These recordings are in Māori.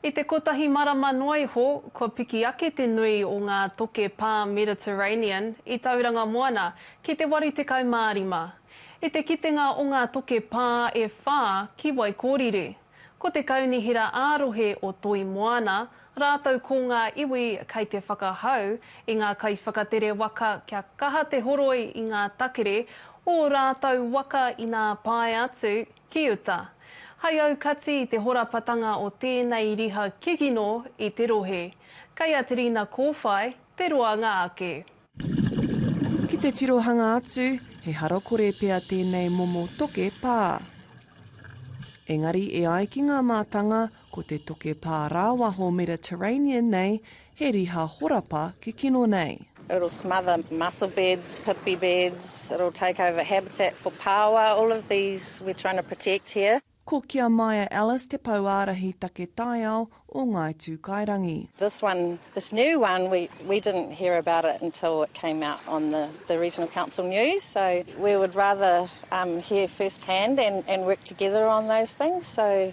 I te kotahi marama noa iho, kua piki ake te nui o ngā toke pā Mediterranean i Tauranga Moana ki te 85. I te kitenga o ngā toke pā e whā ki Waikōriri, ko te kaunihera ā-rohe o Toi Moana rātou ko ngā iwi kei te whakahau i ngā kaiwhakatere waka kia kaha te horoi i ngā takere o ō rātou waka inā pae atu Ki uta. Hai aukati i te horapatanga o tēnei riha kikino i te rohe. Kei a Terina Kōwhai te roanga ake. Ki te tirohanga atu, he harakore pea tēnei momo toke pā. Engari e ai ki ngā mātanga, Ko te toke pā rāwaho Mediterranean nei he riha horapa ki kino nei. It'll smother mussel beds, pipi beds, it'll take over habitat for paoa, all of these we're trying to protect here. Ko Kia Maia Ellis te Pou Ārahi Take Taiao o Ngāi Tūkairangi. This one, this new one, we we didn't hear about it until it came out on the the regional council news, so we would rather hear first hand and and work together on those things, so.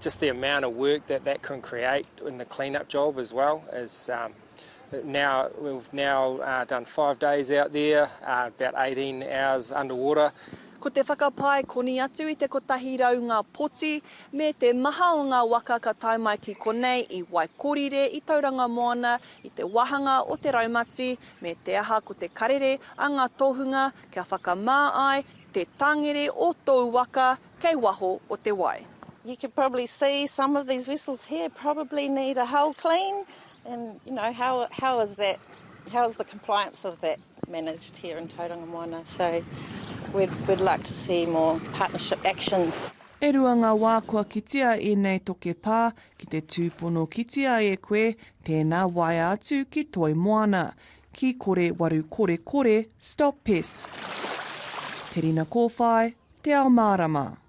Just the amount of work that that can create in the clean up job as well is um, now we've now uh, done five days out there, uh, about 18 hours underwater. Ko te whakapae koni atu i te kotahi rau ngā poti me te maha o ngā waka ka tae mai ki konei i Waikorire, i Tauranga Moana, i te wāhanga o te raumati, me te aha ko te karere a ngā tohunga kia whakamā ai te tangere o tōu waka kei waho o te wai. You can probably see some of these vessels here probably need a hull clean and you know how how is that how is the compliance of that managed here in Tauranga Moana so we'd we'd like to see more partnership actions. E rua ngā wā kua kitea ēnei toke pā ki te tūpono kitea e koe tēnā waea atu ki Toi Moana. Ki kore waru kore kore Stop pests Te rina kōwhai Te ao mārama